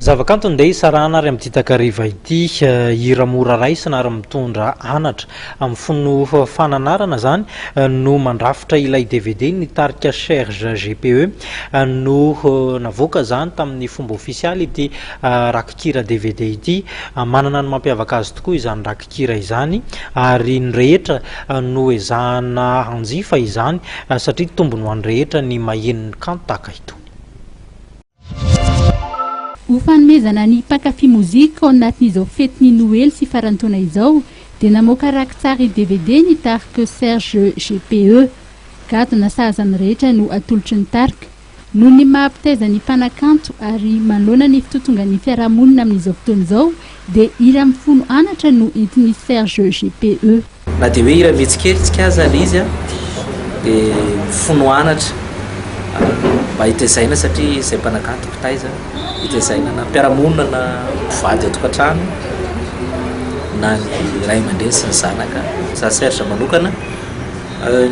Zavakanto ndeha hisarahana ary amin'ity takariva ity. Hira mora raisina ary mitondra anatra. Amin'ny fony fananarana izany no mandrafitra ilay dvd ny tarika Cherge GPE no navoaka izany tamin'ny fomba ofisialy ity rakikira dvd ity. Manana ny mampiavaka azy tokoa izany rakikira izany ary ny rehetra no ezahana hanjifa izany satria tombony ho an'ny rehetra ny maheno ny kanto tahaka itony. Ho fanomezana ny mpankafy mozika ao anatin'izao fetin'ny Noely sy farantaona izao dia namoaka raki-tsary dvd ny tarik'i Serge GPE. Gadona sahaza ny rehetra no atolotry ny tarika. Noho ny maha mpitaiza ny mpanakanto ary manoloana ny fitotongan'ny fiarahamonina amin'izao fotoana izao, Dia iry amin'ny folo anatra no entin'i Serge GPE. Na dia hoe hira vitsy kely tsika aza ilay izy an, dia mifono anatra mba hitezaina satria izay mpanankanto mpitaiza hitezaina na mpiara-monina na mpivady ao tokantrano na ny ray aman-dreny sy ny zanaka. Izaho Serge manokana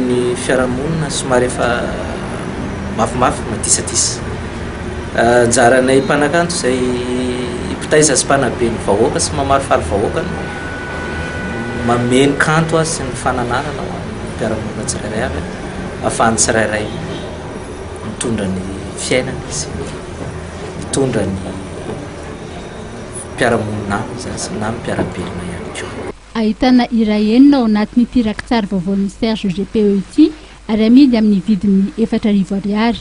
ny fiarahamonina somary efa mafimafy, madisadisa. Anjaranay mpanakanto izay mpitaiza sy mpanabe ny vahoaka sy mamarifaly vahoaka ny manome ny kanto azy sy ny fananarana ho an'ny mpiara-monina tsirairay avy ahafahan'ny tsirairay mitondra ny fiainany sy ny mitondra ny mpiara-monina aminy izany sy na ny mpiara-belona ihany koa. Ahitana hira enina ao anatin'ity rakitsary vaovaon'i Serge GPE ity ary amidy amin'ny vidiny efatra arivo ariary.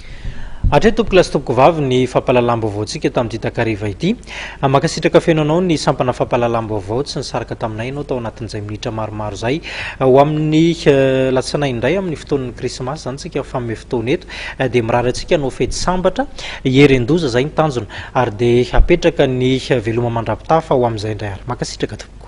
Hatreto tompoko lahy sy tompoko vavy ny fampahalalam-baovaontsika tamin'ity takariva ity. Mankasitraka feno anao ny sampana fampahalalam-baovao tsy nisaraka taminay ianao tao anatin'izay minitra maromaro izay. Ho amin'ny latsinainy indray amin'ny fotoan'ny krismasy izany tsika mifanome fotoana eto dia mirary antsika hanao fety sambatra, hieren-doza izay ny tanjona ary dia hapetraka ny veloma mandrapitafa ho amin'izay indray ary. Mankasitraka tompoko.